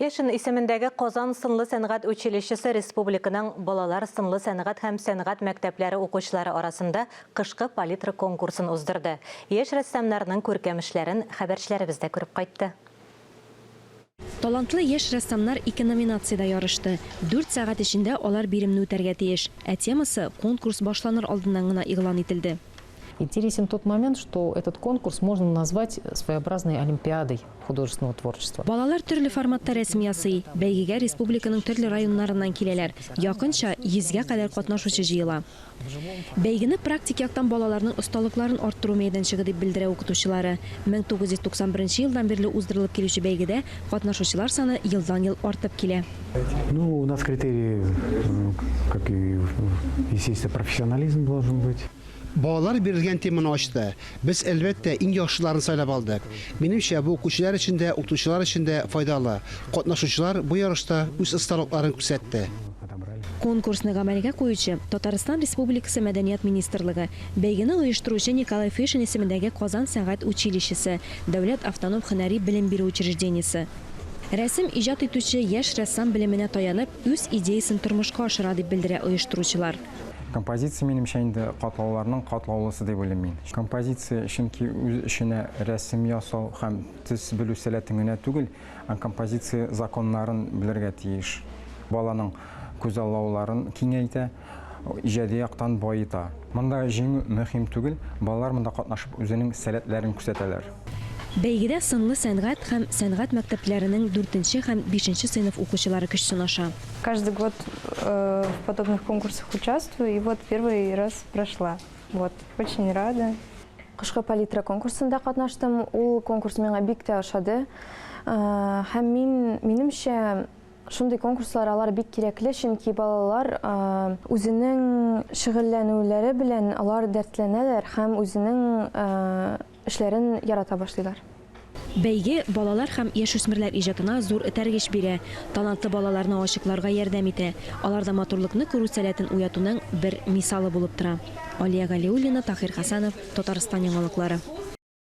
Фешин исемендәге Казан сынлы сәнгать училищесы республиканың балалар сынлы сәнгать һәм сәнгать мәктәпләре укучылары арасында кышкы палитра конкурсын уздырды. Яшь рәссамнарның күркәм эшләрен хәбәрчеләребез дә күреп кайтты. Талантлы яшь рәссамнар ике номинациядә ярышты. Дүрт сәгать эчендә алар биремне үтәргә тиеш. Ә темасы конкурс башланыр алдыннан гына игълан ителде. Интересен тот момент, что этот конкурс можно назвать своеобразной олимпиадой. художественного творчества. Балалар төрле форматта рәсем ясый. Бәйгегә республиканың төрле районнарыннан киләләр. Якынча йөзгә кадәр катнашучы җыела. Бәйгене практик яктан балаларның осталыкларын арттыру мәйданчыгы дип белдерә укытучылары. 1991 елдан бирле уздырылып килүче бәйгедә катнашучылар саны елдан-ел артып килә. Ну, у нас критерии, как и, естественно, профессионализм должен быть. Балалар бирелгән теманы ачты. Без, әлбәттә, иң яхшыларын сайлап алдык. Минемчә, бу укучылар өчен дә, укытучылар өчен дә файдалы. Катнашучылар бу ярышта үз осталыкларын күрсәтте. Конкурсны гамәлгә куючы, Татарстан Республикасы Мәдәният министрлыгы, бәйгене оештыручы Николай Фишин исемендәге Казан сәнгать училищесы, дәүләт автоном һөнәри белем бирү учреждениесе. Рәсем иҗат итүче яшь рәссам белеменә таянып, үз идеясен тормышка ашыра, дип белдерә оештыручылар. Композиция, минемчә, инде катлауларның катлаулысы дип уйлыйм мин. Композиция, чөнки үз эченә рәсем ясау һәм төс белү сәләтен генә түгел, ә композиция законнарын белергә тиеш. Баланың күзаллауларын киңәйтә, иҗади яктан баета. Монда җиңү мөһим түгел, балалар монда катнашып үзенең сәләтләрен күрсәтәләр. Бәйгедә сынлы сәнгать һәм сәнгать мәктәпләренең дүртенче һәм бишенче сыйныф укучылары көч сынаша. Каждый год в подобных конкурсах участвую и вот первый раз прошла. Вот. Очень рада. Кышкы палитра конкурсында катнаштым. Ул конкурс миңа бик тә ошады. Һәм мин, минемчә, шундый конкурслар алар бик кирәкле, чөнки балалар үзенең шөгыльләнүләре белән алар дәртләнәләр һәм үзенең Эшләрен ярата башлыйлар. Бәйге балалар һәм яшүсмерләр иҗатына зур этәргеч бирә, талантлы балаларны ачыкларга ярдәм итә, аларда матурлыкны күрү сәләтен уятуның бер мисалы булып тора. Алия Галиуллина, Таһир Хәсәнов, Татарстан яңалыклары.